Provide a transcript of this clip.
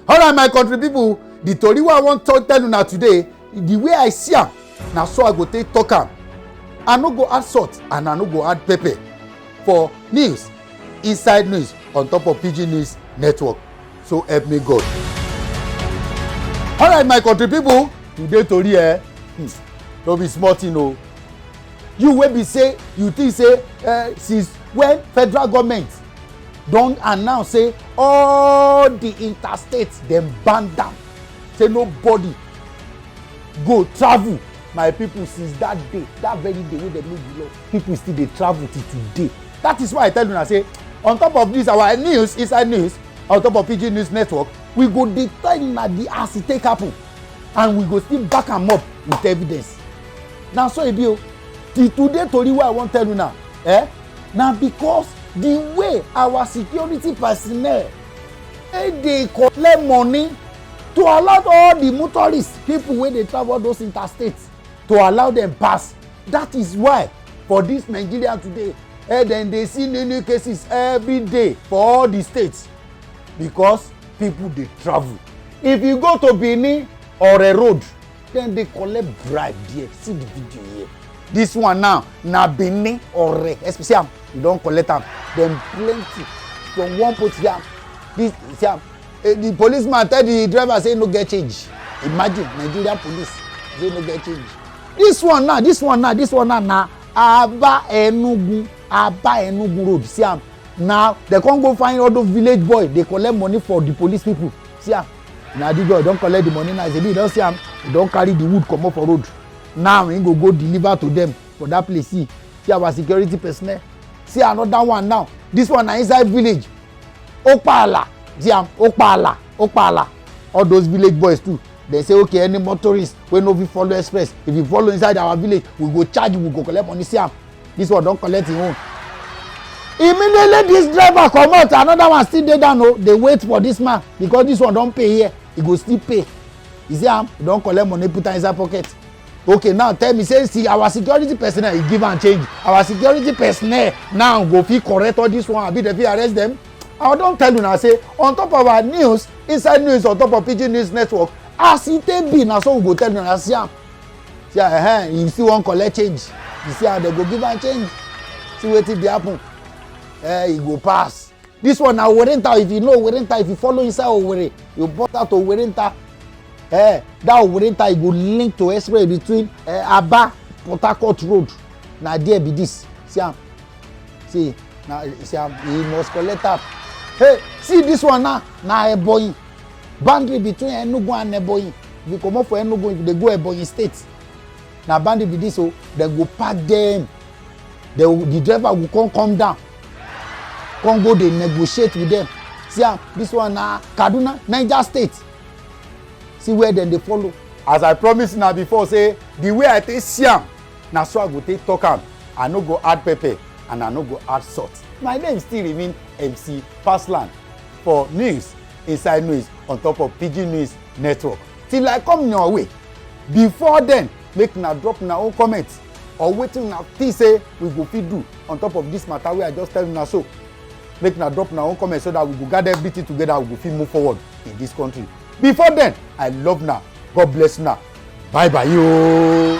alright my country people the tori wey i wan talk tell una today the way i see am na so i go take talk am i no go add salt and i no go add pepper for news inside news on top of pidgin news network so help me god alright my country people today tori eh hmm, no be small thing o you wey be say you think say uh, since when federal government don announce say all the interstates dem ban down say nobody go travel my people since that day that very day wey dem make the law people still dey travel till today that is why i tell una say on top of this our news inside news on top of pg news network we go dey tell una the as e take happen and we go still back am up with evidence na so e be o till today tori wey i wan tell una eh na because the way our security personnel e dey collect money to allow all the motorists people wey dey travel those interstates to allow them pass that is why for this nigeria today eh, dem dey see new new cases every day for all the states because people dey travel if you go to benin or a road dem dey collect bribe there see the video here this one now na benin ore especially am you don collect am dem plenty from one post see am this see am eh, the policeman tell the driver say no get change imagine nigeria police say no get change this one now this one now this one now na aba enugu aba enugu road see am na dem come go find all those village boy dey collect money for the police people see am na the girl don collect the money now shebi you don see am he don carry the wood comot for road now he go go deliver to them for that place see see our security personnel see another one now this one na inside village okpaala see am okpaala okpaala all those village boys too dem say okay any motorist wey no fit follow express if you follow inside our village we go charge you we go collect money see am this one don collect him own immediately this driver comot another one still dey down o oh, dey wait for this man because this one don pay here he go still pay you see am he don collect money put am inside pocket okay now tell me say see our security personnel he give am change our security personnel now go fit correct all this one abi dem fit arrest dem i don tell una say on top of our news inside news on top of pidgin news network as e take be na so we go tell una see am see how uh, you still wan collect change you see how dem go give am change see wetin dey happen uh, e go pass this one na owerenta if you know owerenta if you follow inside owere you burst out owerenta uh, eh, that owerenta e go link to express between uh, aba port harcourt road na there be this see am see na see am he must collect am hey see this one na na ebonyi boundary between enugu and ebonyi if you comot for enugu if you dey go ebonyi state na boundary be this o oh. dem go pack dem the the driver go come come down come go dey negotiate with them see am this one na kaduna niger state see where dem dey follow. as i promise una before say the way i take see am na so i go take talk am i no go add pepper and i no go add salt my name still remain mc pasland for news inside news on top of pidgin news network till i come your way before then make una drop una own comment or wetin una think say we go fit do on top of this matter wey i just tell una so make una drop una own comment so that we go gather everything together we go fit move forward in this country before then i love una god bless una bye bye yoo.